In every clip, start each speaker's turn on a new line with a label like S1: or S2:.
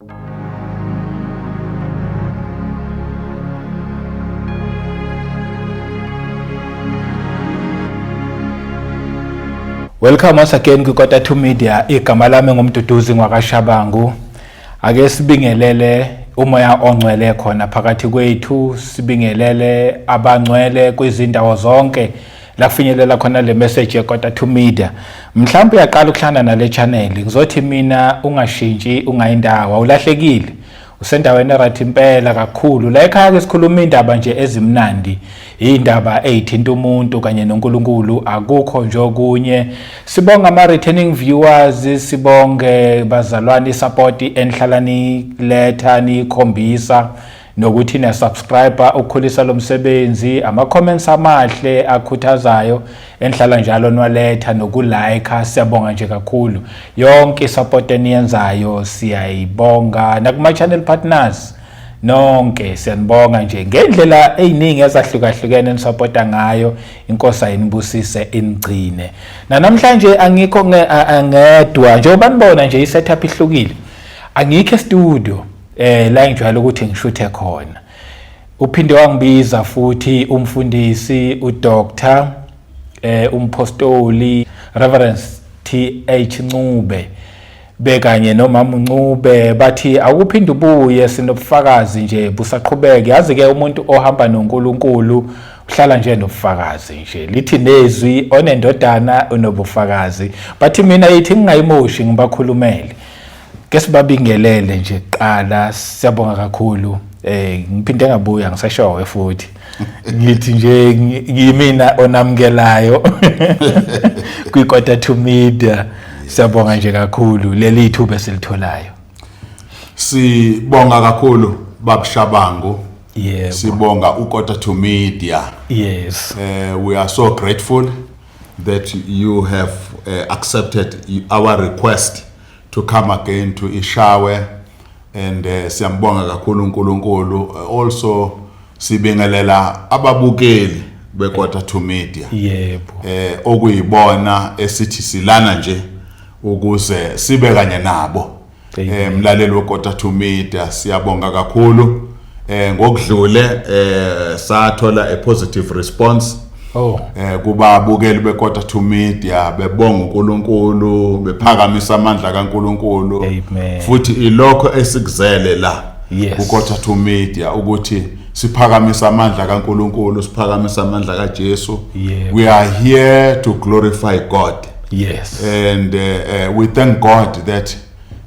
S1: Welcome once again kwiKota 2 Media. Igama lami ngumduduzi ngwakashabangu. Ake sibingelele umoya ongcwele khona phakathi kwethu, sibingelele abangcwele kwizindawo zonke la kufinyelela khona le message yekota to media mhlawumbe uyaqala ukuhlangana nale channel ngizothi mina ungashintshi ungayindawo awulahlekile usendaweni right impela kakhulu la ekhaya ke sikhuluma indaba nje ezimnandi indaba ezithinta umuntu kanye noNkulunkulu akukho nje okunye sibonga ama returning viewers sibonge bazalwane support enhlalani letha nikhombisa nokuthi na subscriber ukukhulisa lomsebenzi ama comments amahle akhuthazayo enhlala njalo nwaletha nokulike siyabonga nje kakhulu yonke support eniyenzayo siyayibonga nakuma channel partners nonke siyanibonga nje ngendlela eziningi ezahlukahlukene nisupporta ngayo inkosi ayinibusise inigcine nanamhlanje angikho ngedwa njengoba nibona nje isetup ihlukile angikho e studio eh la ngijwayele ukuthi ngishuthe khona uphinde wangibiza futhi umfundisi udoctor eh umpostoli reverend TH Ncube bekanye nomama uNcube bathi awuphinde ubuye sinobufakazi nje busaqhubeke yazi ke umuntu ohamba noNkulunkulu uhlala nje nobufakazi nje lithi nezwi onendodana unobufakazi bathi mina yithi ngingayimoshi ngibakhulumele ke sibabingelele nje kuqala siyabonga kakhulu eh ngiphinde ngabuya ngisashowe futhi ngithi nje ngiyimina onamukelayo kwi quarter to media siyabonga nje kakhulu leli ithuba esilitholayo sibonga
S2: kakhulu babshabangu yebo
S1: sibonga u quarter
S2: to media yes uh,
S1: we are so
S2: grateful that you have uh, accepted our request to come again to Ishawe and uh, siyambonga kakhulu uNkulunkulu uh, also sibingelela ababukeli beKota to Media yebo eh
S1: okuyibona
S2: esithi silana nje ukuze sibe kanye nabo eh mlaleli weKota to Media siyabonga kakhulu Eh ngokudlule eh sathola a positive response Oh. Eh kubabukeli beKota to Media bebonga uNkulunkulu bephakamisa amandla kaNkulunkulu futhi ilokho esikuzele la yes. kuKota to Media ukuthi siphakamisa amandla kaNkulunkulu siphakamisa amandla kaJesu yeah. we are here to glorify God yes and
S1: uh,
S2: uh, we thank God that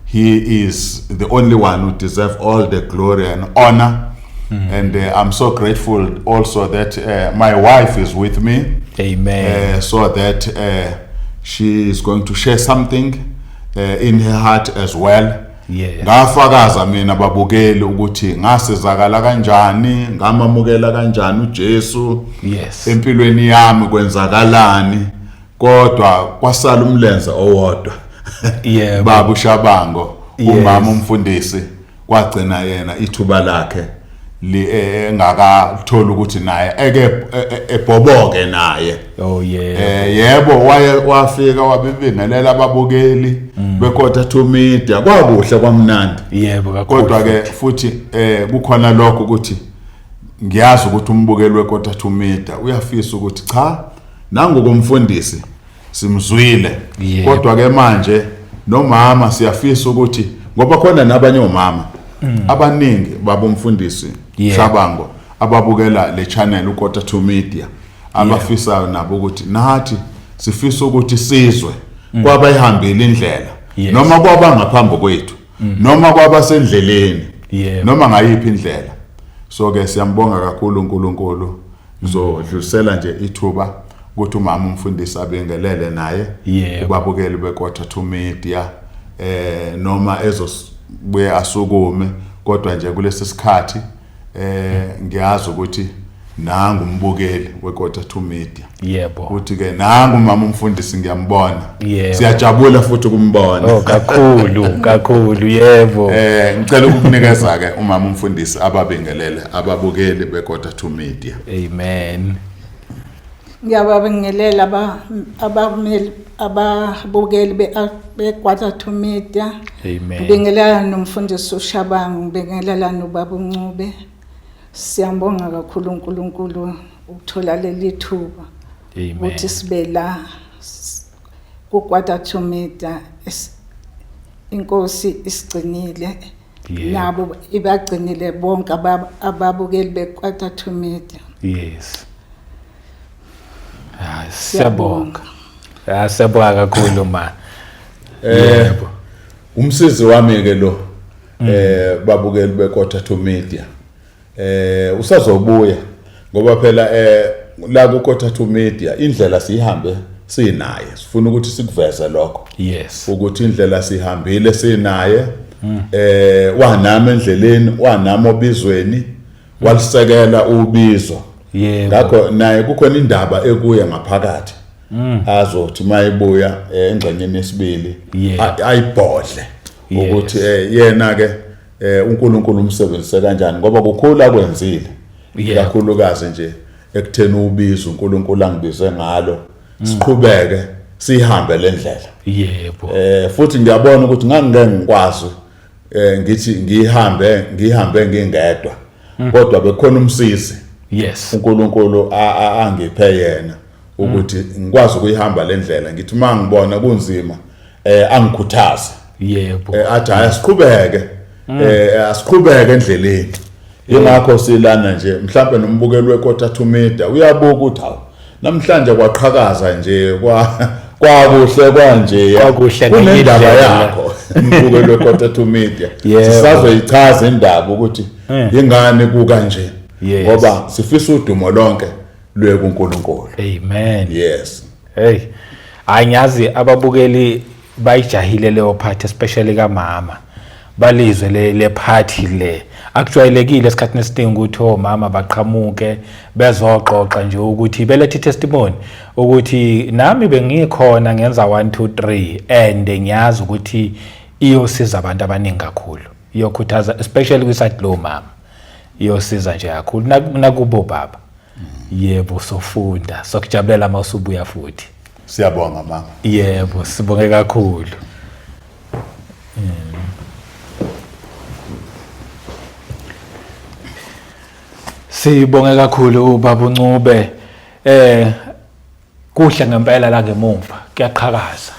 S2: He is the only one who deserves all the glory and honor. Mm. And uh, I'm so grateful also that uh, my wife is with me. Amen. Uh,
S1: so that
S2: uh, she is going to share something uh, in her heart as well. Yeah. Ngafakaza mina babukeli ukuthi ngasizakala kanjani, ngamamukela kanjani uJesu. Yes. Empilweni yami kwenzakalani. kodwa kwasala umlenze owodwa yebo babu shabango umama umfundisi kwagcina yena ithuba lakhe eh, engakathola ukuthi naye eke eh, eh, ebhoboke naye oh yeah eh yebo waye wafika wabibingelela ababukeli mm. bekodwa to media kwakuhle kwamnandi yebo kakhulu kodwa
S1: ke futhi
S2: eh kukhona lokho ukuthi ngiyazi ukuthi umbukeli wekodwa to media uyafisa ukuthi cha Nangu komfundisi simzwile yeah. Kodwa ke manje nomama siyafisa ukuthi ngoba khona nabanye omama mm. abaningi babomfundisi yeah. Shabango ababukela le channel uKota to Media abafisayo yeah. nabo ukuthi nathi sifisa ukuthi sizwe mm. kwabayihambile indlela yes. noma kwaba ngaphambi kwethu mm. noma kwaba sendleleni yeah. noma
S1: ngayiphi indlela
S2: so ke siyambonga kakhulu uNkulunkulu Ngizodlulisela nje ithuba ukuthi umama umfundisi abingelele naye Yebo. kubabukeli
S1: beQuarter
S2: to Media eh noma ezobuye asukume kodwa nje kulesi sikhathi eh ngiyazi ukuthi nangu umbukeli weQuarter to Media yebo ukuthi ke
S1: nangu
S2: umama umfundisi ngiyambona Yebo. siyajabula
S1: futhi
S2: ukumbona Oh kakhulu
S1: kakhulu yebo. eh ngicela ukukunikeza
S2: ke umama umfundisi ababingelele ababukeli bekoda to media Amen.
S1: Ngiyababingelela
S3: aba- abameli ababukeli be- beGwatha to Media. Amen. Ngibingelela
S1: nomfundisi
S3: uShabangu, ngibingelela nobaba uNcube. Siyambonga kakhulu uNkulunkulu ukuthola leli thuba. ukuthi
S1: sibe la
S3: kukwata to meter inkosi isigcinile nabo ibagcinile bonke ababukeli bekwata to meter yes hayi
S1: siyabonga ah, siyabonga kakhulu ma eh
S2: umsizi wami ke lo mm. eh babukeli bekwata to meter Eh usazobuya ngoba phela eh la ku Kothathu Media indlela siyihambe sinaye sifuna ukuthi sikuveze lokho yes ukuthi
S1: indlela
S2: sihambile sinaye mm. eh wanami endleleni wanami obizweni mm. walisekela ubizo yebo ngakho
S1: naye kukhona
S2: indaba ekuye ngaphakathi mm. azothi mayibuya eh, engxenyeni yesibili ayibhodle ukuthi eh, yena ke eh uNkulunkulu umsebenzise kanjani ngoba kukhulu akwenzile kakhulukazi nje ekutheni ubiza uNkulunkulu angibize ngalo mm. siqhubeke sihambe lendlela yebo eh
S1: futhi ngiyabona
S2: ukuthi ngangike ngikwazi eh ngithi ngihambe ngihambe ngingedwa mm. kodwa bekhona umsizi yes
S1: uNkulunkulu
S2: angiphe yena ukuthi mm. ngikwazi ukuyihamba lendlela ngithi mangibona kunzima eh angikhuthaze yebo
S1: eh, athi hayi asiqhubeke
S2: mm. eh asiqhubeke endleleni yingakho silana nje mhlawumbe nombukeli wekota to media uyabuka ukuthi hawu namhlanje kwaqhakaza nje kwa kwakuhle kwanje kwakuhle ngendaba yakho mbukeli wekota to media sisazoyichaza indaba ukuthi eh. yingani kuka nje ngoba sifisa udumo lonke lwe kuNkulunkulu amen
S1: yes hey hayi ngiyazi ababukeli bayijahile leyo part especially kamama balizwe le le party le akujwayelekile esikhathini esiningi ukuthi omama oh, baqhamuke bezoxoxa nje ukuthi belethe testimony ukuthi nami bengikhona ngenza 1 2 3 and ngiyazi ukuthi iyosiza abantu abaningi kakhulu iyokhuthaza especially kwisathi lo mama iyosiza nje kakhulu nakubo baba yebo sofunda sokujabulela uma usubuya futhi siyabonga mama
S2: yebo sibonge
S1: kakhulu sibonge kakhulu baba uncube eh Kuhle ngempela la ngemumva kuyaqhakaza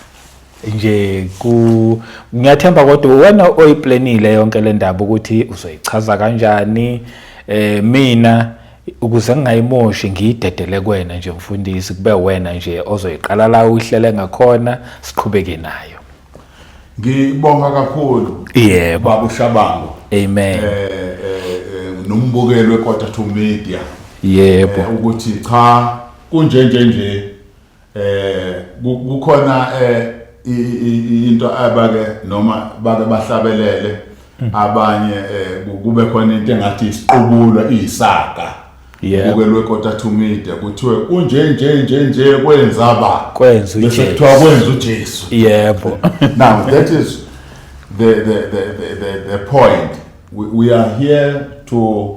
S1: nje ku ngiyathemba kodwa wena oyiplanile yonke le ndaba ukuthi uzoyichaza kanjani eh mina ukuze ngingayimoshi ngiyidedele kwena nje mfundisi kube wena nje ozoyiqala la uhlele ngakhona siqhubeke nayo ngibonga
S2: kakhulu yebo baba
S1: ushabango
S2: amen eh,
S1: eh, eh nombukelwe
S2: kodwa to media yebo eh,
S1: ukuthi cha
S2: kunje nje nje eh kukhona eh into abake noma bake bahlabelele mm. abanye eh, kube khona into engathi isiqubulo iyisaga ubukelwe kota to media kuthiwe kunje nje nje nje kwenza ba kwenza uJesu bese kuthiwa
S1: kwenza uJesu
S2: yebo
S1: now that
S2: is the the the the, the point we, we are here to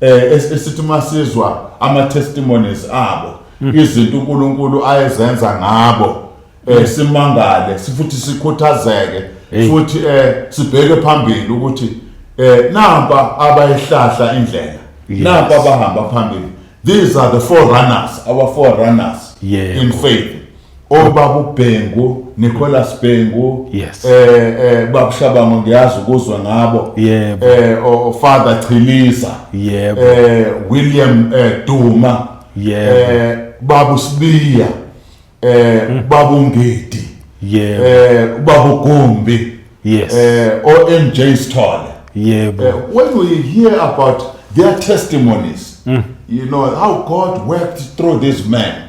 S2: eh esithi masizwa ama testimonies abo hmm. izinto uNkulunkulu ayezenza ngabo eh hmm. simangale sifuthi sikhuthazeke futhi eh sibheke phambili ukuthi eh namba abayihlahla indlela namba abahamba phambili these are the forerunners our forerunners yeah, in faith obaba ubhengu Nicholas Bhengu yes. eh eh babushabango ngiyazi ukuzwa ngabo yebo eh o father Chiliza yebo eh William eh, Duma yebo eh babu Sibiya eh hmm. babu Ngidi yebo eh babu Gumbi yes eh OMJ Sithole yebo eh, when we hear about their testimonies mm. you know how God worked through these men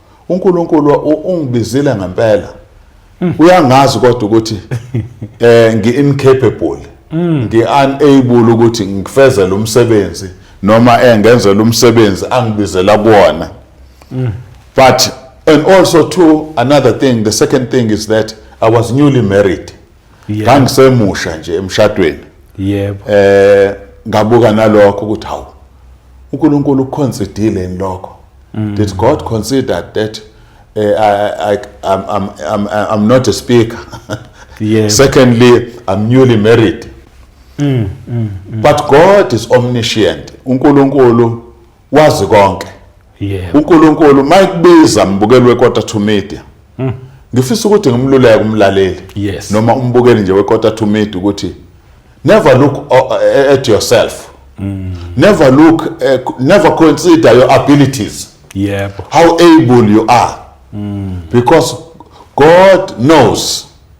S2: uNkulunkulu ungibizile ngempela hmm. uyangazi kodwa ukuthi eh ngi incapable hmm. ngi unable ukuthi ngifezele umsebenzi noma engenzela umsebenzi angibizela kuona hmm. but and also too another thing the second thing is that i was newly married ngangisemusha nje emshadweni yebo eh ngabuka nalokho ukuthi hawu uNkulunkulu uconsiderile lokho mm. did god consider that uh, I, I, I'm, I'm, I'm, I'm not a speaker yebo
S1: secondly
S2: i'm newly married mm, mm, mm. but god is omniscient uNkulunkulu wazi konke yebo
S1: uNkulunkulu
S2: mayikubiza mbukeli wekota to media hmm. ngifisa ukuthi ngimluleke umlaleli yes. noma umbukeli
S1: nje
S2: wekota to media ukuthi never look uh, uh, at yourself mm. never look uh, never consider your abilities yebo how
S1: able
S2: you are mm. because god knows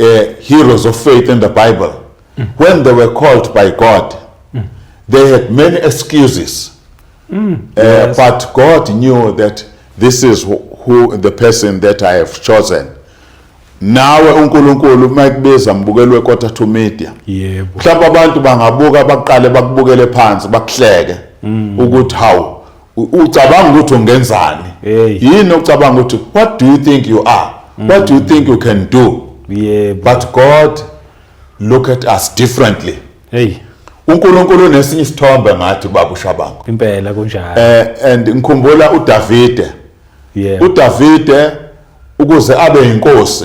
S2: uh, heroes of faith in the Bible, mm. when they were called by God, mm. they had many excuses. Mm. Uh,
S1: yes. But God
S2: knew that this is who the person that I have chosen. nawe uNkulunkulu uma ekubiza mbukelwe quarter to media yebo mhlawumbe
S1: abantu
S2: bangabuka baqale bakubukele phansi bakuhleke mm. ukuthi hawu ucabanga ukuthi ungenzani yini
S1: ocabanga ukuthi
S2: what do you think you are mm. what do you think you can do yeah, but
S1: god
S2: look at us differently hey
S1: uNkulunkulu
S2: unesinye isithombe ngathi baba ushabango impela kunjalo
S1: eh and ngikhumbula
S2: uDavide yeah
S1: uDavide
S2: ukuze abe inkosi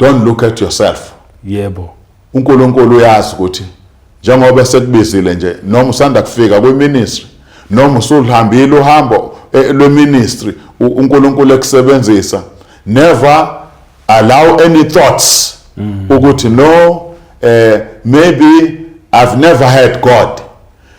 S1: don't look
S2: at yourself yebo
S1: uNkulunkulu
S2: uyazi ukuthi njengoba sekubizile nje noma usanda kufika kwiministry noma usulihambile uhambo eh, lweministry uNkulunkulu ekusebenzisa never allow any thoughts mm. ukuthi no eh maybe i've never had god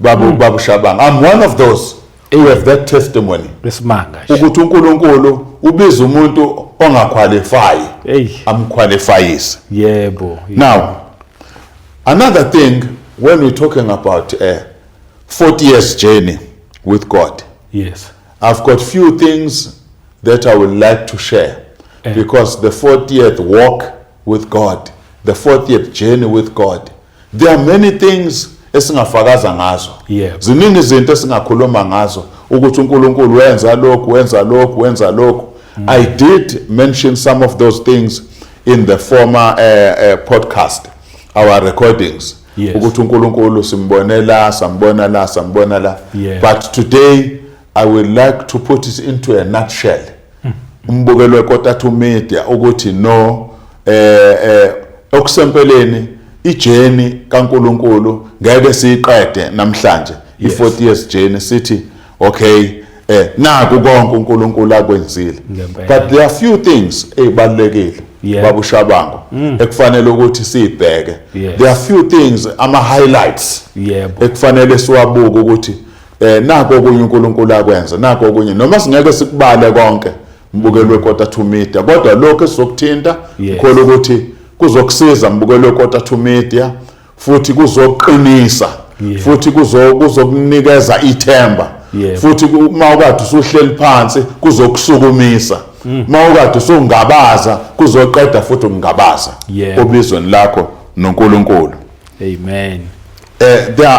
S2: babu mm. babu Shabanga I'm one of those who have that testimony besimanga ukuthi
S1: uNkulunkulu
S2: ubiza umuntu ongaqualify hey
S1: amqualifyise
S2: yebo yeah,
S1: now
S2: another thing when we talking about a eh, 40 years journey with God yes I've
S1: got few
S2: things that I would like to share eh. because the 40th walk with God the 40th journey with God There are many things esingafakaza ngazo. Yep. Ziningi
S1: izinto
S2: esingakhuluma ngazo ukuthi uNkulunkulu wenza lokhu, wenza lokhu, wenza lokhu. Mm. I did mention some of those things in the former uh, uh, podcast, our recordings. Yes. Ukuthi uNkulunkulu simbonela, sambona la,
S1: sambona
S2: la. Yeah. But today I would like to put it into a nutshell. Hmm. Umbukelo weKotathu Media ukuthi no eh eh okusempeleni ijeni kaNkuluNkulu ngeke siyiqede namhlanje i40 years journey sithi okay eh naku konke uNkulunkulu akwenzile but there are few things ezibalekile babu shabango hmm. ekufanele ukuthi sibheke there are few things ama highlights ekufanele siwabuke ukuthi Eh nako okunye uNkulunkulu akwenza nako okunye noma singeke sikubale konke mbukelwe kota to media kodwa lokho esizokuthinta ngikholwa ukuthi kuzokusiza mbukelwe kota to media futhi kuzoqinisa futhi kuzokunikeza ithemba futhi uma ukade usuhleli phansi kuzokusukumisa mm. uma ukade usungabaza kuzoqeda futhi ukungabaza obizweni lakho noNkulunkulu amen
S1: eh there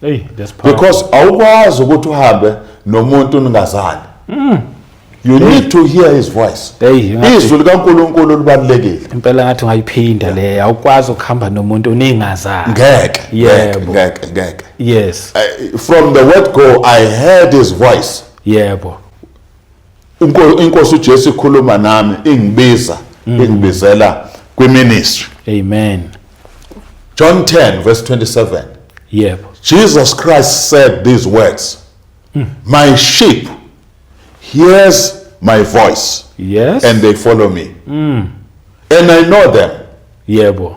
S2: Hey, that's powerful.
S1: because awukwazi
S2: ukuthi uhambe nomuntu ningazani mm. you hey. need to hear his voice hey, izwi likankulunkulu libalulekile impela ngathi ungayiphinda
S1: yeah. le awukwazi ukuhamba nomuntu uningazani ngeke yebo ngeke
S2: ngeke yes uh,
S1: from the word
S2: go i heard his voice yebo yeah, inkosi uJesu ikhuluma nami ingibiza mm. ingibizela kwiministry amen John 10 verse 27 yebo Jesus Christ said these words mm. my sheep hears my voice yes and they follow me mm. and I know them yebo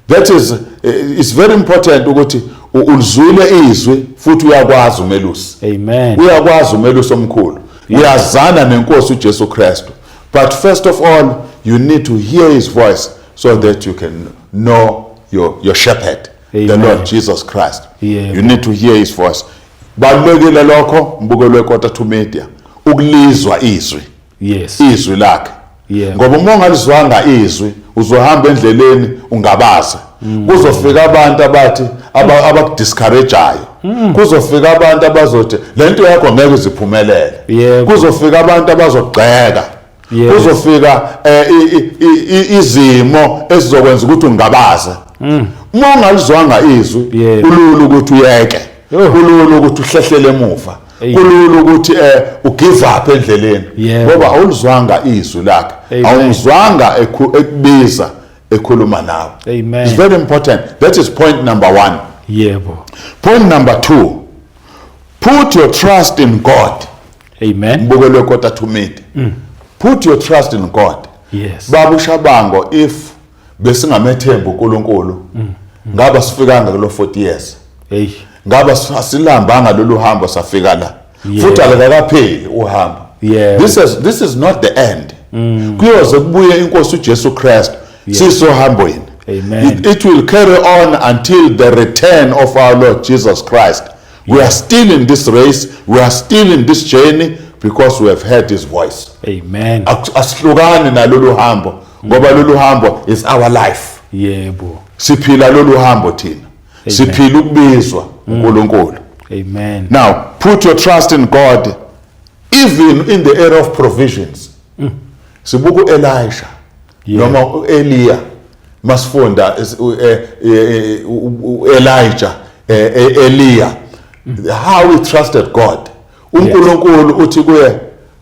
S2: that is eh, it's very important ukuthi ulizwile izwi futhi uyakwazi umelusi amen uyakwazi
S1: umelusi
S2: omkhulu uyazana nenkosi uJesu Kristu but first of all you need to hear his voice so that you can know your your shepherd amen. the Lord Jesus Christ yeah, you need to hear his voice balekele lokho mbukelwe kota to media ukulizwa izwi yes izwi lakhe yeah. ngoba uma ungalizwanga izwi uzohamba endleleni ungabaze mm. kuzofika abantu abathi abakudiscourageayo mm. kuzofika abantu abazothi le nto yakho ngeke iziphumelele yeah. kuzofika abantu abazogxeka yeah. kuzofika eh, izimo ezizokwenza ukuthi ungabaze mm. uma ungalizwanga izwi yeah. kulula ukuthi uyeke kulula ukuthi uhlehlele emuva kulula ukuthi eh ugive up endleleni ngoba awulizwanga izwi lakhe awumzwanga ekubiza ekhuluma nawe amen it's very important that is point number 1 yebo point number 2 put your trust in god amen mbukelwe kota to meet mm. put your trust in god yes babu shabango if besingamethemba uNkulunkulu mm. ngaba sifikanga kulo 40 years hey ngaba asilambanga lolu hambo safika la futhi akakapheli uhambo yeah this is this is not the end mm. kuyoze kubuye inkosi uJesu Christ sisohambweni amen it, it will carry on until the return of our Lord Jesus Christ we are still in this race we are still in this journey because we have heard his voice amen asihlukani nalolu hambo ngoba lolu hambo is our life yebo siphila lolu hambo thina siphila ukubizwa mm. uNkulunkulu amen now put your trust in god even in the area of provisions mm. sibuka uElisha noma uElia masifunda eh, eh, uElijah eh, eElia how he trusted God uNkulunkulu uthi kuye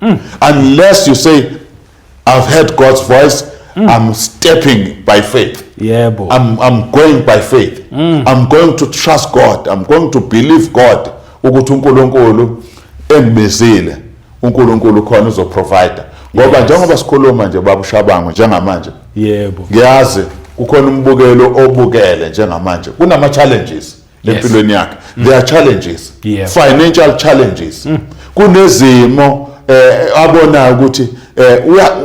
S2: mm. unless you say i've heard god's voice mm. i'm stepping by faith yebo yeah, I'm,
S1: i'm going
S2: by faith mm. i'm going to trust god i'm going to believe god ukuthi unkulunkulu engibizile unkulunkulu khona uzoprovider ngoba yes. njengoba sikhuluma nje babushabango njengamanje yebo
S1: ngiyazi
S2: kukhona umbukelo obukele njengamanje kunama challenges lempilweni yakhe mm. there are challenges yeah. financial
S1: challenges
S2: mm. kunezimo eh abonayo ukuthi eh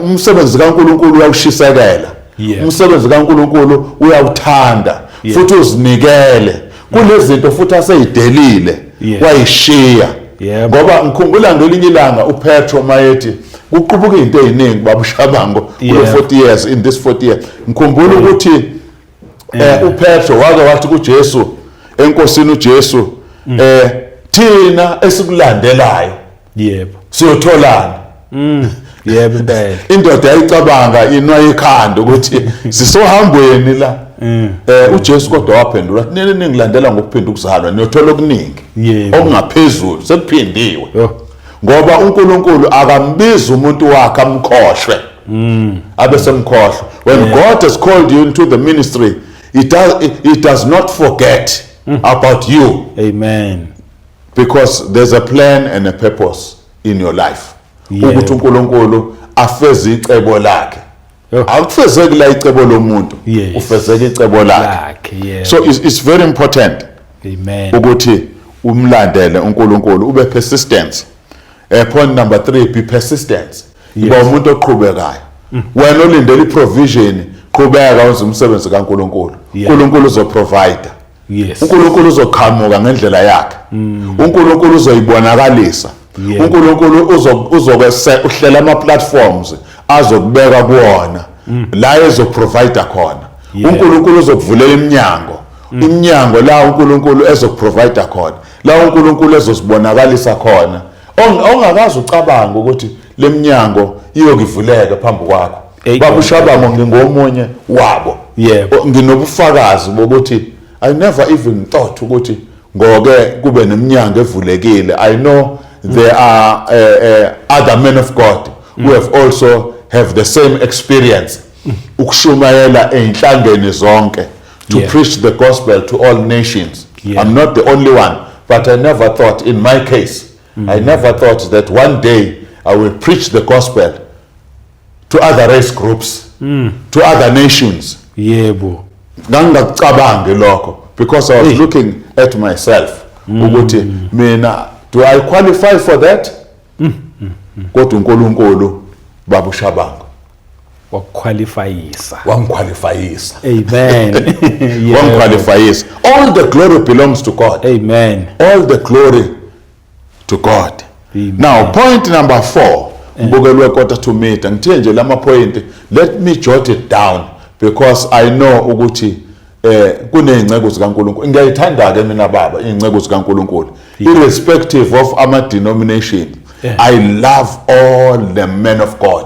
S2: umsebenzi kaNkuluNkulu uyawushisekela yeah. umsebenzi
S1: kaNkuluNkulu
S2: uyawuthanda yeah. futhi
S1: uzinikele
S2: kunezinto futhi aseyidelile yeah. wayishiya
S1: yeah.
S2: ngoba
S1: ngikhumbula
S2: ngelinye ilanga uPetro mayethi kuqubuka into eziningi babushabango kulo 40 years in this 40 years ngikhumbula ukuthi yeah. eh uPetro wake wathi kuJesu enkosini uJesu mm. eh thina esikulandelayo yebo
S1: siyotholana
S2: mm.
S1: yebo impela indoda yayicabanga
S2: inwa ikhanda ukuthi sisohambweni la mm. eh uJesu kodwa waphendula nini ningilandela ngokuphinda ukuzalwa niyothola okuningi okungaphezulu sekuphindiwe
S1: ngoba
S2: uNkulunkulu akambizi umuntu wakhe amkhohlwe mm. abe semkhohlwa when yeah. God has called you into the ministry he does, he does not forget mm. about you amen
S1: because
S2: there's a plan and a purpose in your life ukuthi
S1: uNkulunkulu
S2: afeze icebo lakhe akufezeki
S1: la icebo
S2: lomuntu yes. ufezeka
S1: icebo lakhe
S2: yeah. so it's,
S1: it's very
S2: important Amen. ukuthi umlandele uNkulunkulu ube persistence eh point number 3 be persistence yes. iba umuntu oqhubekayo mm. wena olindele iprovision qhubeka wenza umsebenzi kaNkulunkulu uNkulunkulu yeah.
S1: uzoprovider
S2: Yes. uNkulunkulu
S1: uzoqhamuka
S2: ngendlela yakhe mm. uNkulunkulu uzoyibonakalisa yeah. uNkulunkulu uzokwese uhlela ama platforms azokubeka kuona mm. la ezoprovider khona yeah. uNkulunkulu
S1: uzokuvulela
S2: iminyango mm. iminyango la uNkulunkulu ezokuprovider khona la uNkulunkulu ezosibonakalisa khona ongakazi ucabanga ukuthi leminyango iyokivuleka phambi kwakho baba ushabamo ngingomunye wabo yebo
S1: nginobufakazi
S2: bokuthi i never even thought ukuthi ngoke kube neminyango evulekile i know there are uh, uh, other men of god who have also have the same experience ukushumayela einhlangeni zonke to yeah. preach the gospel
S1: to
S2: all nations yeah. i'm not the only
S1: one
S2: but i never thought in my case mm. i never thought that one day i will preach the gospel to other race groups mm. to other nations yebo
S1: ngangingakucabangi
S2: lokho because i was hey. looking at myself mm. ukuthi mina do i qualify for that mm. Mm. Mm. kodwa uNkulunkulu babu Shabangu wakuqualifyisa
S1: wangiqualifyisa
S2: amen
S1: wangiqualifyisa
S2: all the glory belongs to god amen all the
S1: glory
S2: to God Amen. now
S1: point number
S2: 4 eh. mbukelwe quarter to meter ngithe nje lama point let me jot it down because i know ukuthi eh kuneyinceku zikaNkuluNkulu ngiyayithanda ke mina baba izinceku zikaNkuluNkulu irrespective of ama denomination eh. i
S1: love
S2: all the men of god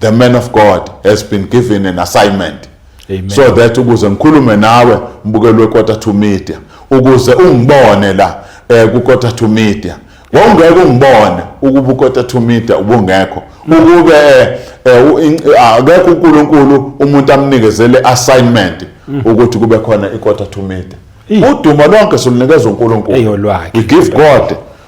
S2: the man of God has been given an assignment Amen. so that
S1: ukuze
S2: ngikhulume nawe mbukeli wequarter to media ukuze ungibone la eh kuquarter to media wawungeke ungibone ukuba uquarter to media ubungekho ukube eh, eh, akekho uNkulunkulu umuntu amnikezele assignment mm. ukuthi kube khona iquarter to media udumo lonke silunikeza uNkulunkulu we give God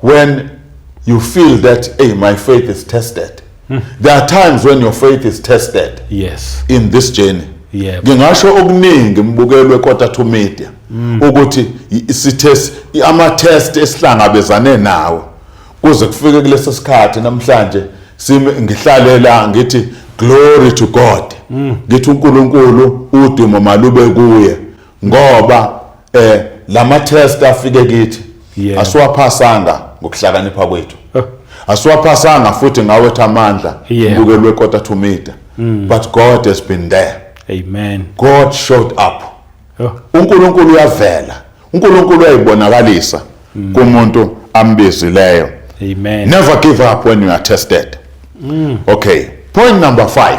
S2: When you feel that hey my faith is tested. Hmm. There are times when your faith is tested. Yes. In this
S1: journey.
S2: Yeah. Ngingasho
S1: okuningi
S2: mbukelwe quarter to media hmm. ukuthi sithe ama test esihlangabezane nawo kuze kufike kulesi sikhathi namhlanje simi ngihlalela ngithi glory to God ngithi uNkulunkulu udumo malube kuye ngoba eh lama test afike kithi yeah. asiwaphasanga ngokuhlakanipha kwethu huh. asiwaphasanga futhi ngawethu amandla yeah. bukelwe kota
S1: to meter
S2: mm. but god has been there amen god
S1: showed
S2: up huh.
S1: unkulunkulu
S2: uyavela unkulunkulu uyayibonakalisa mm. kumuntu ambizileyo amen
S1: never give up when
S2: you are tested mm. okay point number 5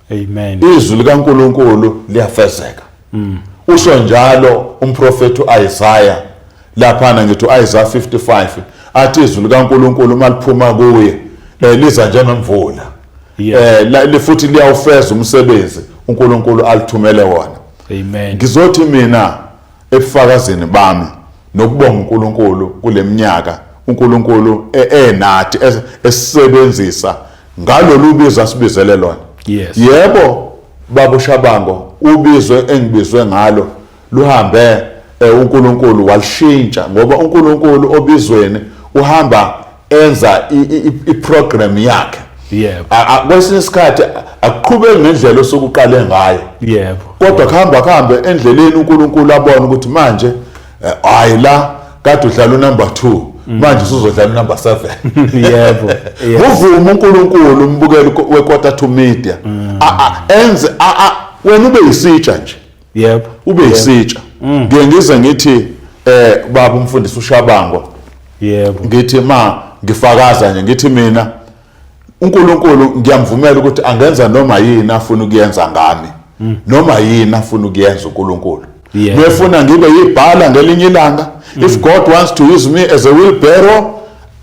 S2: Amen. Izwi
S1: likaNkuluNkulu
S2: liyafezeka. Mm. Usho njalo umprofeti uIsaiah laphana ngithi uIsaiah 55 athi izwi likaNkuluNkulu maliphuma kuye eh, liza njengemvula. Eh futhi liyawufeza umsebenzi uNkulunkulu alithumele wona. Amen. Ngizothi
S1: mina
S2: Ebufakazini bami nokubonga uNkulunkulu kuleminyaka uNkulunkulu e, enathi e, esisebenzisa ngalolu bizo asibizele lona. Yes. Yebo baba uShabango ubizwe engibizwe ngalo luhambe eh, uNkulunkulu walishintsha ngoba uNkulunkulu obizweni uhamba enza iprogram yakhe yebo
S1: kwesinye isikhathi
S2: akuqhubeki ngendlela osokuqale ngayo yebo kodwa
S1: kuhamba
S2: kuhambe endleleni uNkulunkulu abone ukuthi manje eh, hayi la kade udlala unumber 2 manje usuzodlala unumber 7 yebo
S1: uvume
S2: uNkulunkulu umbukeli wequarter to media mm. enze wena ube yisitsha nje yebo ube
S1: yisitsha
S2: mm. ngiye ngize ngithi eh baba umfundisi ushabangwa yebo
S1: ngithi ma
S2: ngifakaza nje ngithi mina uNkulunkulu ngiyamvumela ukuthi angenza noma yini afuna ukuyenza ngami mm. noma yini afuna ukuyenza uNkulunkulu yeah. mefuna ngibe yibhala ngelinye ilanga mm. if god wants to use me as a wheelbarrow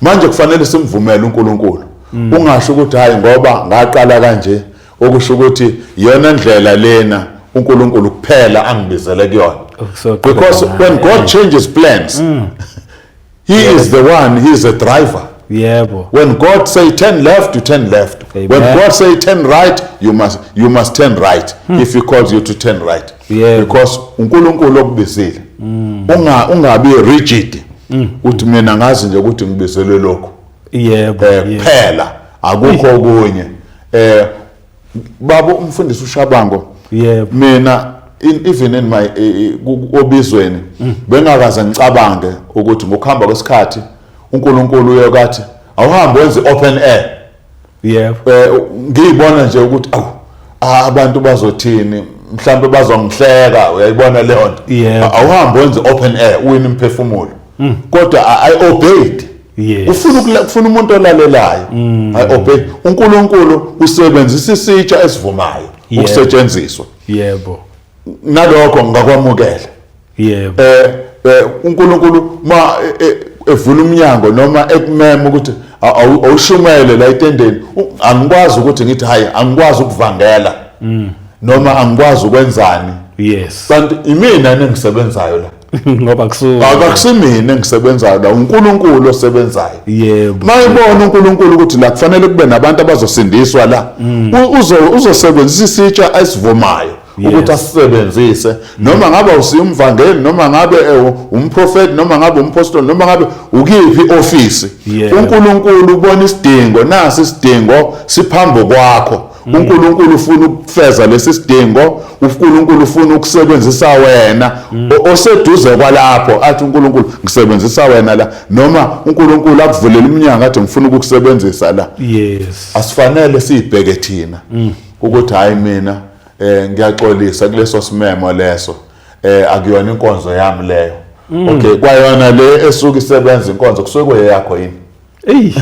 S1: manje kufanele
S2: simvumele uNkulunkulu mm. ungasho ukuthi hayi ngoba ngaqala kanje okusho ukuthi yona ndlela lena uNkulunkulu kuphela angibizele kuyona oh, because when God changes plans mm. he yeah. is the one he is a driver yebo when
S1: god say
S2: turn left you turn left Amen. when god say
S1: turn
S2: right you must you must turn right hmm. if he calls you to turn right yeah. because
S1: uNkulunkulu
S2: okubizile mm. unga ungabi rigid mm. uthi mina ngazi nje ukuthi ngibizelwe lokho yebo eh,
S1: kuphela
S2: akukho okunye eh baba umfundisi ushabango yebo mina in, even in my eh, obizweni mm. bengakaze ngicabange ukuthi ngokuhamba kwesikhathi uNkulunkulu uyokathi awuhambe wenze open air
S1: yebo eh ngiyibona
S2: nje ukuthi awu abantu bazothini mhlambe bazongihleka uyayibona leyo nto awuhambe wenze
S1: open
S2: air uwini imphefumulo hmm. kodwa i obeyed ufuna
S1: ufuna umuntu
S2: olalelayo hmm. i obey uNkulunkulu usebenzisa isitsha esivumayo ukusetshenziswa yebo
S1: nalokho
S2: ngakwamukela yebo
S1: eh, eh
S2: uNkulunkulu ma e, e, evula umnyango noma ekumema ukuthi awushumele la etendeni angikwazi ukuthi ngithi hayi angikwazi ukuvangela mm. noma angikwazi ukwenzani yes kanti
S1: imina
S2: nengisebenzayo la ngoba kusuka
S1: akakusimina
S2: engisebenzayo la uNkulunkulu osebenzayo yebo mayibona
S1: uNkulunkulu
S2: ukuthi la kufanele kube nabantu abazosindiswa la mm. uzosebenzisa isitsha esivumayo ukuthi asisebenzise noma ngabe usiya umvangeli noma ngabe eh, umprofeti noma ngabe umpostoli noma ngabe ukiphi ofisi uNkulunkulu ubona isidingo nasi isidingo siphambo kwakho mm. uNkulunkulu ufuna ukufeza lesi sidingo uNkulunkulu ufuna ukusebenzisa wena mm. oseduze kwalapho athi uNkulunkulu ngisebenzisa wena la noma uNkulunkulu akuvulela iminyango athi ngifuna ukukusebenzisa la yes
S1: asifanele
S2: sibheke thina mm. ukuthi hayi mina eh ngiyaxolisa kuleso simemo leso eh akuyona inkonzo yami leyo mm. okay kwayona le esuke isebenza inkonzo kusuke kweyakho yini eyi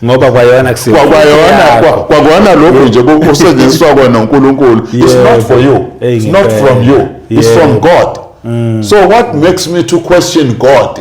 S2: ngoba
S1: kwayona kusiwa kwayona kwakona
S2: lokho nje kusetshenziswa kwena uNkulunkulu it's not for you it's not from you it's from God mm. so what makes me to question God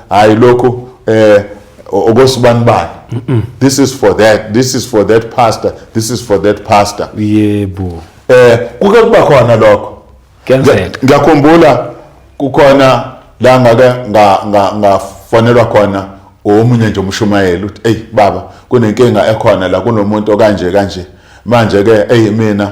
S2: hayi lokhu eh okosibanibani this is for that this is for that pastor this is for that pastor yebo
S1: eh kuke
S2: kuba khona lokho kenzeka
S1: ngiyakhumbula
S2: kukhona la ngake ngafonelwa khona omunye nje umshumayeli uthi eyi baba kunenkinga ekhona la kunomuntu okanje kanje manje-ke eyi mina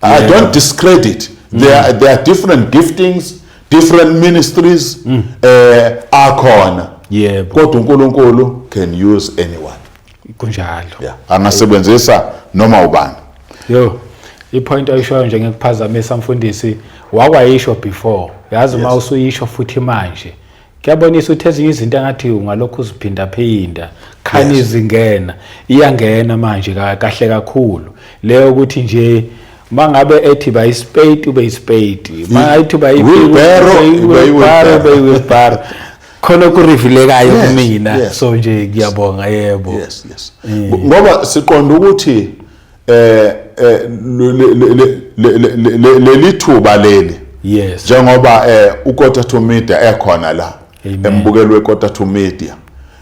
S2: I yeah. don't discredit. Mm. There, are, there are different giftings, different ministries mm. uh, akhona. Yeah.
S1: Kodwa uNkulunkulu
S2: can use anyone. Kunjalo.
S1: Yeah.
S2: Angasebenzisa noma ubani. Yo.
S1: ipoint ayishoyo nje ngikuphazamisa mfundisi wakwayisho before yazi uma usuyisho futhi manje kuyabonisa ukuthi ezinye izinto engathi ungalokhu uziphindaphinda khani yes. izingena iyangena manje kahle kakhulu leyo ukuthi nje mangabe ethi ba ispade ube ispade mangathi ba iwheelbarrow ube iwheelbarrow khona okurevilekayo kumina so nje ngiyabonga yebo yes yes mm.
S2: ngoba siqonda ukuthi eh, eh leli thuba leli yes njengoba
S1: eh
S2: uKota to Media ekhona la embukelo weKota to Media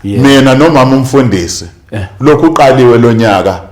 S2: mina nomama umfundisi eh. lokhu uqaliwe lonyaka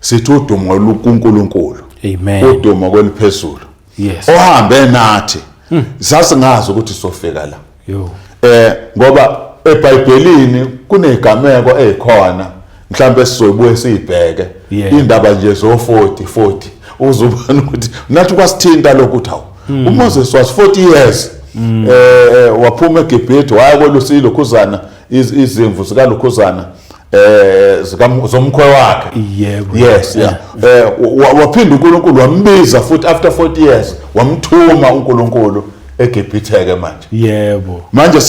S2: sithi udumo lukuNkulunkulu amen udumo
S1: kweliphezulu
S2: yes ohambe
S1: nathi
S2: hmm. sasingazi ukuthi sofika la yo eh
S1: ngoba
S2: eBhayibhelini kunezigameko ezikhona mhlawumbe sizobuye siyibheke indaba nje zo 40 40 uzubona ukuthi nathi kwasithinta lokhu ukuthi hawu hmm. uMoses was 40 years hmm. eh, eh waphuma eGibhithe waya kolusi lokhuzana izimvu zika lokhuzana eh zomkhwe wakhe yebo yes
S1: yeah
S2: eh waphinda uNkulunkulu wambiza futhi after 40 years wamthuma uNkulunkulu eGibhitheke manje yebo manje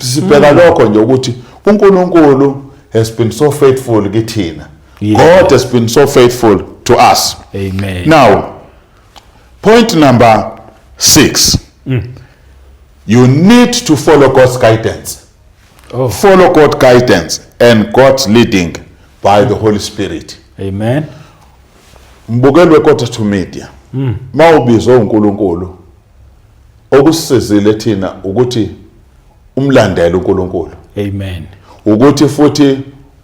S2: sibheka hmm. lokho nje ukuthi uNkulunkulu has been so faithful kithina God has been so faithful to us
S1: amen
S2: now point number 6 mm. you need to follow God's guidance Oh.
S1: Follow God
S2: guidance and God's leading by the Holy Spirit. Amen. Mbukeli weKotas to Media. Mm. Mawubizwe uNkulunkulu okusizile thina ukuthi umlandele uNkulunkulu. Amen.
S1: Ukuthi futhi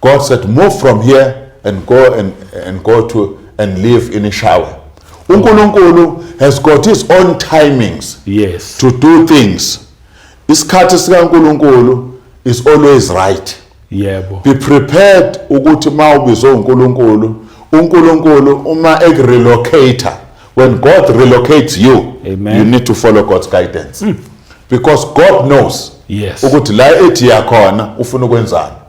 S2: God said move from here and go and, and go to and live in Ishawe. uNkulunkulu has got his own timings yes. to do
S1: things.
S2: Isikhathi sikaNkulunkulu is always right. Yebo. Be
S1: prepared
S2: ukuthi uma ubizwe uNkulunkulu, uNkulunkulu uma ekurelocate when God relocates you, Amen. you need to follow
S1: God's
S2: guidance. Mm. Because God knows yes. ukuthi la
S1: ethi
S2: yakhona ufuna ukwenzani.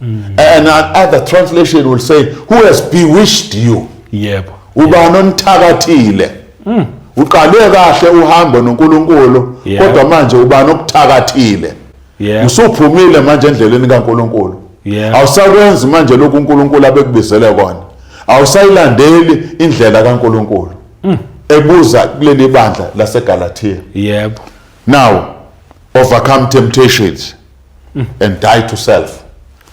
S2: mm. and another translation will say who has bewitched you yebo ubani onithakathile mm. uqale kahle uhambo noNkulunkulu kodwa manje
S1: ubani
S2: okuthakathile
S1: usuphumile manje
S2: endleleni kaNkulunkulu awusakwenzi
S1: manje
S2: lokhu uNkulunkulu abekubizele kona awusayilandeli indlela kaNkulunkulu mm. ebuza kuleli bandla laseGalatia yebo
S1: now
S2: overcome temptations and die to self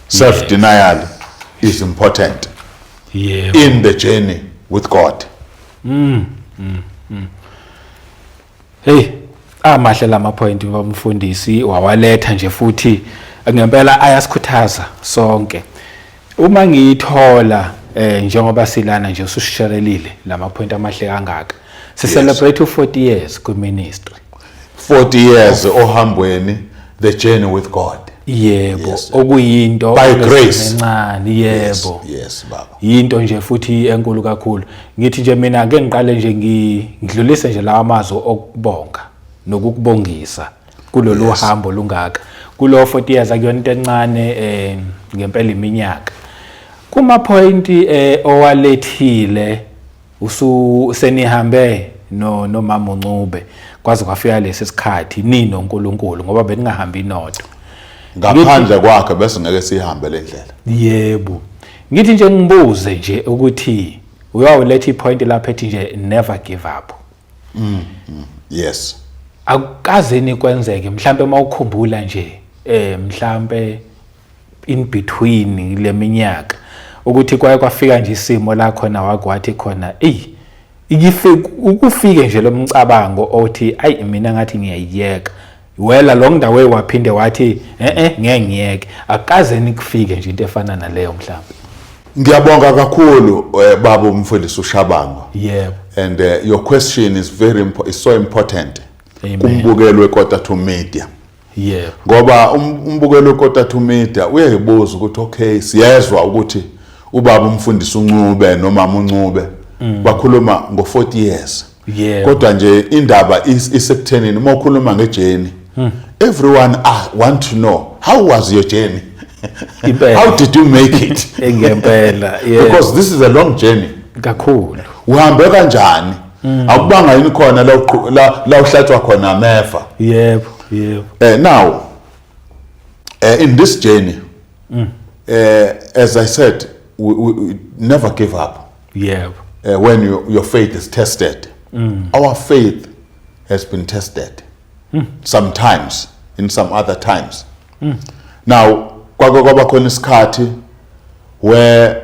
S2: self denial yes. is important yeah.
S1: in the journey
S2: with god mm. Mm. Mm.
S1: hey amahle lama point bamfundisi wawaletha nje futhi ngempela ayasikhuthaza sonke uma ngiyithola eh njengoba silana nje usushishelelile lama point amahle kangaka si celebrate u 40 years ku ministry 40
S2: years ohambweni the journey with God yebo yes,
S1: okuyinto
S2: by
S1: grace
S2: encane yebo
S1: yes, yes baba
S2: yinto nje futhi
S1: enkulu kakhulu ngithi nje mina ake ngiqale nje ngidlulise nje lawa mazwi okubonga nokukubongisa kulolu yes. hambo lungaka kulo 40 years akuyona into encane eh ngempela iminyaka kuma point eh owalethile usenihambe no nomama uNcube kwaze kwafika lesi sikhathi nino uNkulunkulu ngoba beningahambi nodwa ngaphandle
S2: kwakhe bese ngeke sihambe le ndlela yebo
S1: ngithi nje ngibuze nje ukuthi uyawuletha ipoint lapha ethi nje never give up mm, mm yes
S2: akukaze
S1: nikwenzeke mhlambe mawukhumbula nje eh mhlambe in between leminyaka ukuthi kwaye kwafika nje isimo la khona wakwathi khona eyi ukufike nje lomcabango othi ayi mina ngathi ngiyayiyeka wela lo ndawo waphinde wathi eh ngeke ngiyeke akaze nikufike nje into efana naleyo mhlawumbe ngiyabonga
S2: kakhulu eh, baba umfundisi ushabango yebo and
S1: uh, your
S2: question is very is so important kumbukelwe
S1: kodwa
S2: to media yebo ngoba
S1: um-,
S2: umbukelo ukota to media uyayibuza ukuthi okay siyezwa ukuthi ubaba umfundisi uncube nomama uncube mm. bakhuluma ngo 40 years yeah. kodwa nje
S1: indaba
S2: isekuthenini uma ukhuluma ngejeni hmm. everyone ah, want to know how was your journey how did you make it ngempela
S1: yeah. because this is a
S2: long journey kakhulu
S1: uhambe
S2: kanjani Mm. Akubanga yini khona la la, la uhlatshwa khona amefa. Yebo, yebo.
S1: Eh now
S2: eh in this journey mm. eh as I said we, we, we never give up. Yebo. Eh
S1: when you, your
S2: faith is tested. Mm. Our faith has been tested. Mm. Sometimes in some other times. Mm. Now kwake kwaba khona isikhathi where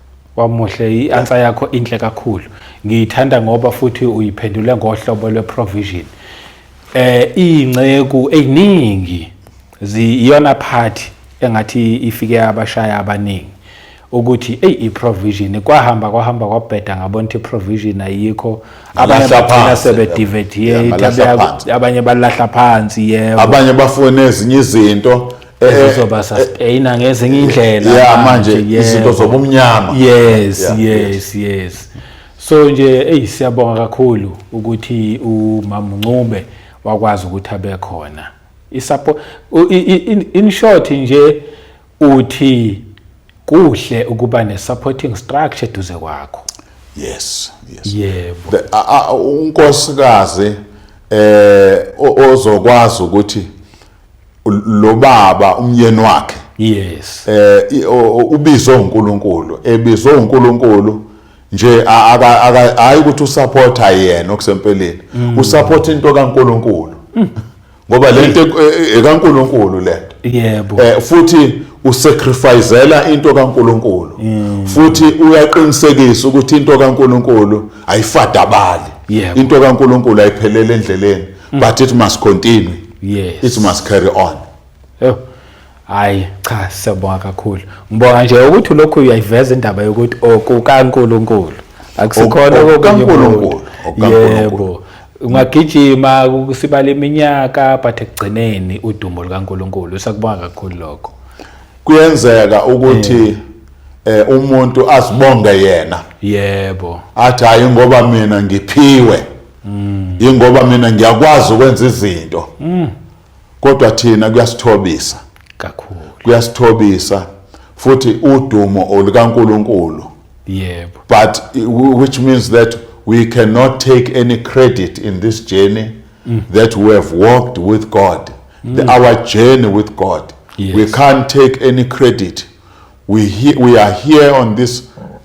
S2: Wamuhle
S1: i-answer yakho inhle kakhulu. Ngiyithanda ngoba futhi uyiphendule ngohlobo lwe-provision. Eh inceku eziningi ziyona party engathi ifike abashaya abaningi ukuthi eyi i-provision kwahamba kwahamba kwabheda ngabona ukuthi i-provision ayikho abanye Balahla bagcina phansi. sebedivetiyate Yeah, balahla phansi. abanye balahla phansi yebo abanye bafuna ezinye
S2: izinto ezizoba eh, eh,
S1: sustainer ngezinye indlela yeah manje izinto
S2: zobumnyama yes yeah, yes
S1: yes so nje hey siyabonga kakhulu ukuthi umama Ncube wakwazi ukuthi abe khona isupport in short nje uthi kuhle ukuba ne supporting structure duze kwakho yes
S2: yes
S1: yebo
S2: unkosikazi eh ozokwazi ukuthi lo baba umyeni wakhe yes
S1: eh
S2: ubizwe uNkulunkulu ebizwe uNkulunkulu nje hayi ukuthi usupporta yena okusempeleni mm. usupporta into kaNkulunkulu mm. ngoba lento e, e, ekaNkulunkulu lento yebo eh futhi usacrificela into kaNkuluNkulu mm. futhi uyaqinisekisa ukuthi into kaNkuluNkulu ayifadabali into kaNkuluNkulu ayiphelele endleleni mm. but it must continue yes it must
S1: carry on
S2: yebo
S1: hayi cha siyabonga kakhulu ngibonga nje ukuthi lokhu uyayiveza indaba yokuthi okukaNkuluNkulu oh, akusikhona oh, okukaNkuluNkulu
S2: oh, yebo
S1: ungagijima kusibala iminyaka but ekugcineni udumo lukaNkuluNkulu sakubonga kakhulu lokho kuyenzeka
S2: ukuthi yeah. eh umuntu azibonge yena yebo
S1: athi hayi ngoba
S2: mina ngiphiwe mm. ingoba mina ngiyakwazi ukwenza izinto mm. kodwa thina kuyasithobisa kakhulu
S1: kuyasithobisa
S2: futhi udumo olukaNkuluNkulu yebo
S1: but
S2: which means that we cannot take any credit in this journey mm. that we have walked with God mm. the, our journey with God yes. we can't
S1: take
S2: any credit we he, we are here on this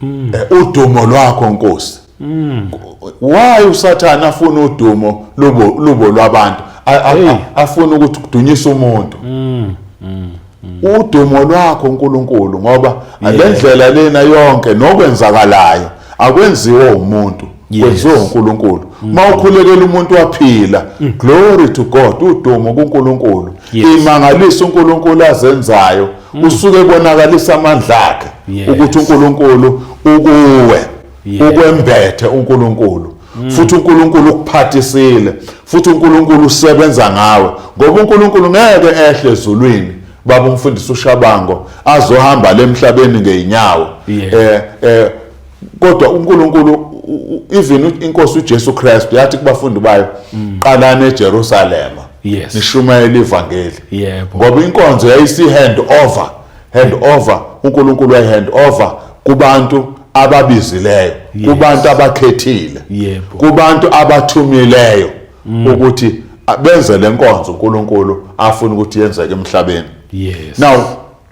S2: mm. eh, udumo lwakho nkosi mm. why usathana afuna udumo lubo lubo lwabantu afuna ukuthi kudunyise umuntu mm. Mm. mm. udumo lwakho uNkulunkulu ngoba yeah. lendlela lena yonke nokwenzakalayo akwenziwe umuntu kwenziwe uNkulunkulu mm. uma ukhulekela umuntu waphila mm. glory to God udumo kuNkulunkulu imangaliso uNkulunkulu azenzayo mm. usuke bonakalisa amandla akhe ukuthi uNkulunkulu ukuwe ukwembethe uNkulunkulu futhi uNkulunkulu ukuphathisile futhi uNkulunkulu usebenza ngawe ngoba uNkulunkulu ngeke ehle ezulwini baba umfundisi ushabango azohamba lemhlabeni ngeenyawo eh eh kodwa uNkulunkulu even inkosi uJesu Kristu yathi kubafundi bayo mm. qalani eJerusalema yes. nishumayela ivangeli yebo ngoba inkonzo yayisi hand over hand over uNkulunkulu wayi hand over kubantu ababizileyo yes. kubantu abakhethile yebo kubantu abathumileyo mm. ukuthi benze lenkonzo uNkulunkulu afuna ukuthi yenzeke emhlabeni yes now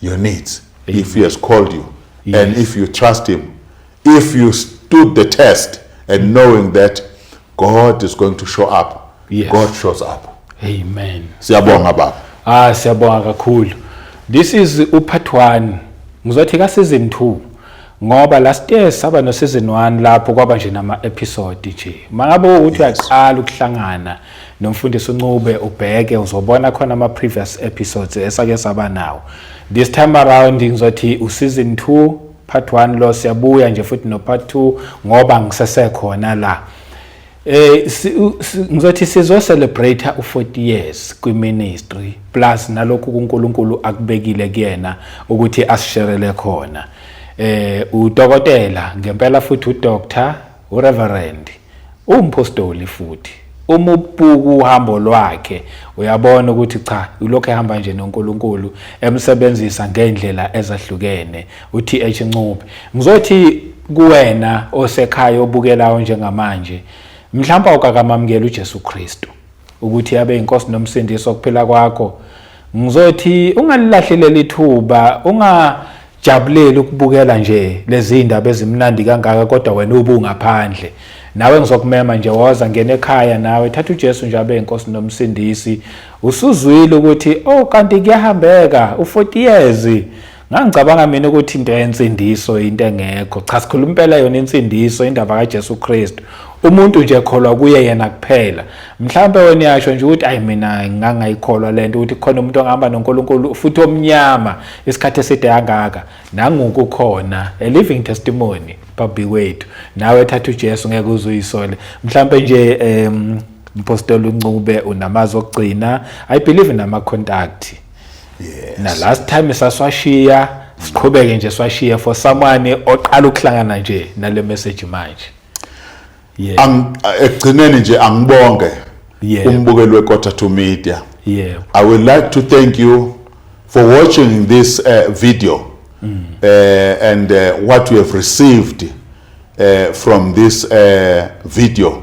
S2: your needs Amen. if he has called you yes. and if you trust him if you stood the test and mm. knowing that god is going to show up yes. god shows up amen
S1: siyabonga baba
S2: ah siyabonga
S1: kakhulu this is upart 1 ngizothi ka season 2 ngoba last year saba no season 1 lapho kwaba nje nama episode nje mangabe uthi uyaqala ukuhlangana nomfundisi uncube ubheke uzobona khona ama-previous episodes esake saba nawo this time around ngizothi useason two part one lo siyabuya nje futhi no-part two ngoba ngisesekhona la eh ngizothi sizo-celebrate u-40 years kwi-ministry plus nalokhu kunkulunkulu akubekile kuyena ukuthi asisherele khona eh udokotela ngempela futhi udoctor Ureverendi umphostoli futhi uma ubuka uhambo lwakhe uyabona ukuthi cha ulokhu ehamba nje noNkulunkulu emsebenzisa ngendlela ezahlukene uTH Ncube ngizothi kuwena osekhaya obukelayo njengamanje mhlawumbe awukakamamukela uJesu Kristu ukuthi abe inkosi nomsindisi okuphila kwakho ngizothi ungalilahleleli ithuba ungajabuleli ukubukela nje lezi ndaba ezimnandi kangaka kodwa wena ubungaphandle nawe ngizokumema nje woza ngena ekhaya nawe thatha uJesu nje abe inkosi nomsindisi usuzwile ukuthi oh kanti kuyahambeka u40 years Ngangicabanga mina ukuthi into yensindiso into engekho. Cha sikhuluma impela yona insindiso indaba kaJesu Kristu. Umuntu nje ekholwa kuye yena kuphela. Mhlawumbe wena yasho nje ukuthi ayi mina ngangayikholwa lento ukuthi khona umuntu ongahamba noNkulunkulu futhi omnyama isikhathi eside kangaka. Nanguku khona a living testimony babi wethu. Nawe thatha uJesu ngeke uzuyisole. Mhlawumbe nje em Mpostoli uNcube unamazwi okugcina. I believe in ama contact. yes.
S2: na last time
S1: saswashiya siqhubeke nje swashiya for someone oqala ukuhlangana nje nale message manje yeah.
S2: ekugcineni nje angibonge yeah. umbukeli wequarter to media yeah. i would like to thank you for watching this uh, video mm. uh, and uh, what you have received uh, from this uh, video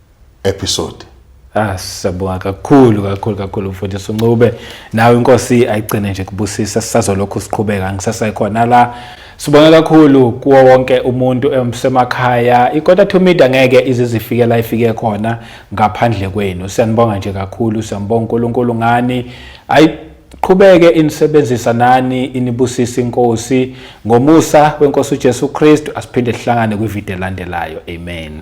S2: episode Ah
S1: siyabonga kakhulu kakhulu kakhulu mfundisi uNcube nawe inkosi ayigcine nje kubusisa sisazolokhu siqhubeka ngisasayikhona la sibonga kakhulu kuwo wonke umuntu emsemakhaya ikota to media ngeke izizifike la ifike khona ngaphandle kwenu siyanibonga nje kakhulu siyambonga uNkulunkulu ngani ayi qhubeke inisebenzisa nani inibusisa inkosi ngomusa wenkosi uJesu Kristu asiphinde sihlangane kwivideo elandelayo amen